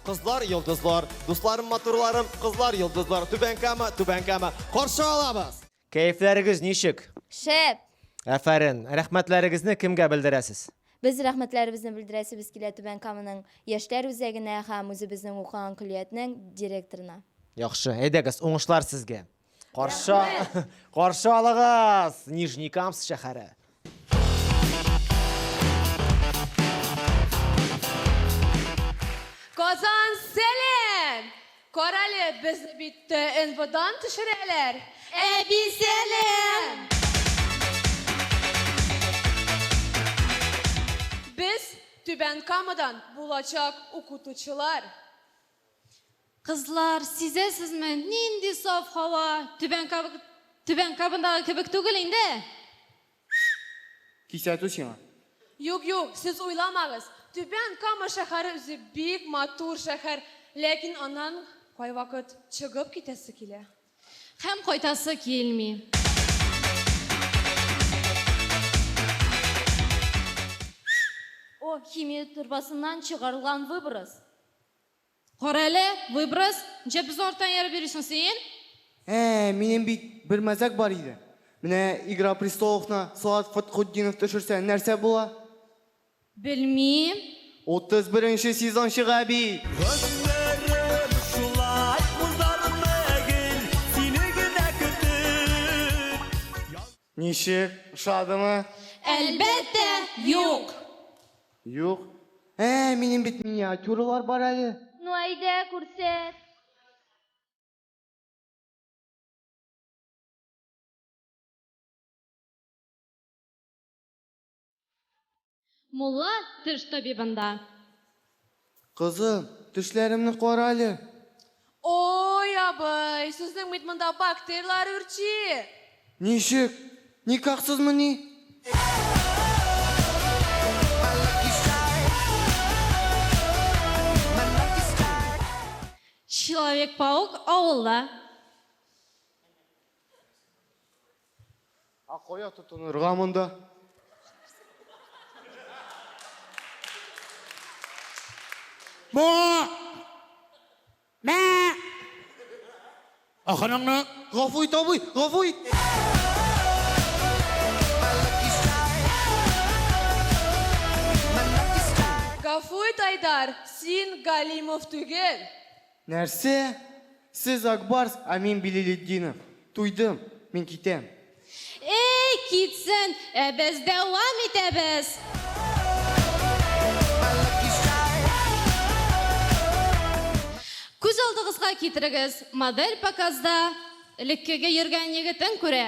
Кызлар, йолдызлар, дусларым, матурларым, кызлар, йолдызлар, түбән кама, түбән кама. Каршы алабыз! Кәефләрегез ничек? Шәп! Әфәрен, рәхмәтләрегезне кемгә белдерәсез? Без рәхмәтләребезне белдерәсебез килә Түбән Каманың яшьләр үзәгенә һәм үзебезнең укыган көллиятнең директорына. Яхшы, әйдәгез, уңышлар сезгә. Каршы, каршы алыгыз, Нижний Камс шәһәре. Казан Селен! Карале, без бит э, НВОдан төшерәләр. Әби Селен! Без Түбән Камадан булачак укытучылар. Кызлар, сизәсезме, нинди саф һава, Түбән Кабык, Түбән Кабындагы кебек түгел инде! Кисәтү сиңа. Юк, юк, сез уйламагыз, Түбән Кама шәһәре үзе бик матур шәһәр, ләкин аннан кайвакыт чыгып китәсе килә. Һәм кайтасы килми. О, химия торбасыннан чыгарылган выброс. Карале, выброс, нчә без арттан ярып йөрисең син? Ә, минем бит бер мәзәк бар иде. Менә Игра престоловны Салават Фатхутдинов төшерсә, нәрсә була? Белмим. Утыз беренче сезон чыга бит! Гомерем шулай узармы гел сине генә көтеп. Ничек? Ошадымы? Әлбәттә, юк! Юк? Ә, минем бит миниатюралар бар әле. Ну, әйдә, күрсәт. Мулла теш табибында. Кызым, тешләремне карале. Ой, абый, сезнең бит монда бактерлар үрчи. Ничек? Никахсызмыни? Человек-паук авылда. А кая тотынырга монда? Мә! Мә! Аханаңны! Гафу ит, абый, гафу ит! Гафу ит, Айдар, син Галимов түгел. Нәрсә? Сез Ак Барс, ә мин Билилетдинов. Туйдым. Мин китәм. Әй, китсен, ә без дәвам итәбез! Күз алдыгызга китерегез, модель показда элеккеге йөргән егетен күрә.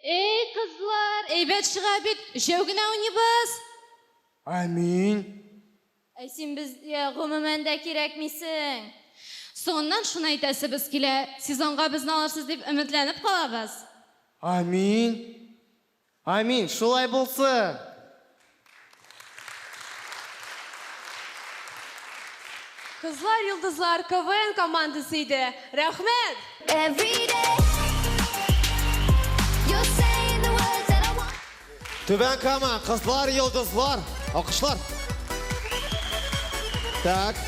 Эй, кызлар, әйбәт чыга бит. Өчәү генә уйныйбыз. Амин. Ә син безгә гомумән дә кирәкмисең. Соңыннан шуны әйтәсебез килә. Сезонга безне алырсыз дип өметләнеп калабыз. Амин. Амин, шулай булсын! Кызлар йолдызлар КВН командасы иде. Рәхмәт! Түбән Кама, Кызлар йолдызлар. Алкышлар. Так.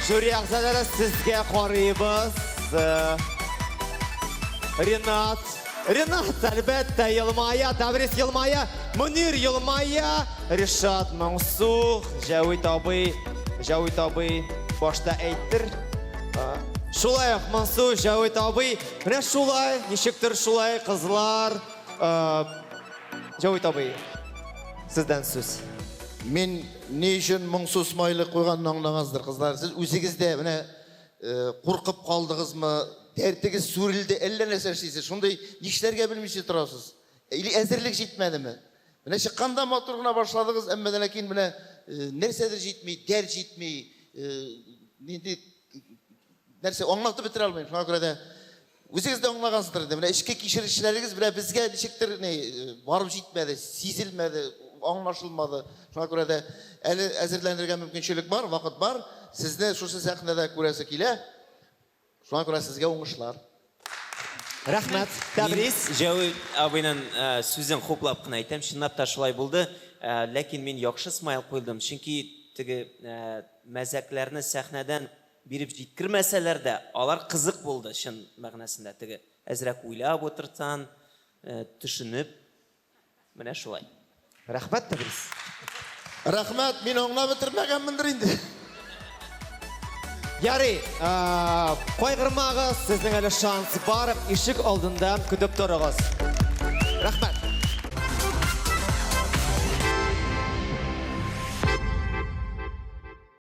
Жюри әгъзалары сезгә карыйбыз. Ренат. Ренат, әлбәттә, елмая, Таврис елмая, Мөнир елмая, Ришат моңсу, Җәвит абый, Җәвит абый башта әйттер. Шулай ук моңсу, Җәвит абый, менә шулай, ничектер шулай, кызлар. Җәвит абый, сездән сүз. Мин ни өчен моңсу смайлик куйганны аңлагансыздыр, кызлар. Сез үзегез дә менә Куркып калдыгызмы? Дәртегез сүрелде, әллә нәрсә эшлисез. Шундый нишләргә белмичә торасыз. Или әзерлек җитмәдеме? Менә чыкканда матур гына башладыгыз, әмма дә ләкин менә нәрсәдер җитми, дәрт җитми, нинди нәрсә аңлатып бетерә алмыйм. Шуңа күрә дә Үзегез дә аңлагансыздыр инде, менә эчке кичерешләрегез белән безгә ничектер ни барып җитмәде, сизелмәде, аңлашылмады. Шуңа күрә дә әле әзерләнергә мөмкинчелек бар, вакыт бар. Сезне шушы сәхнәдә күрәсе килә. Шуңа күрә сезгә уңышлар. Рәхмәт. Тәбрис. Җәүи абыйның сүзен хуплап кына әйтәм, чынлап та шулай булды. Ләкин мин яхшы смайл куйдым, чөнки теге мәзәкләрне сәхнәдән Биреп җиткермәсәләр дә, алар кызык булды, чын мәгънәсендә, теге әзрәк уйлап утыртсан, төшенеп, менә шулай. Рәхмәт, Тәбрис. Рәхмәт, мин аңлап бетермәгәнмендер инде. Ярый, кайгырмагыз, сезнең әле шанс бар, ишек алдында көтеп торыгыз. Рәхмәт.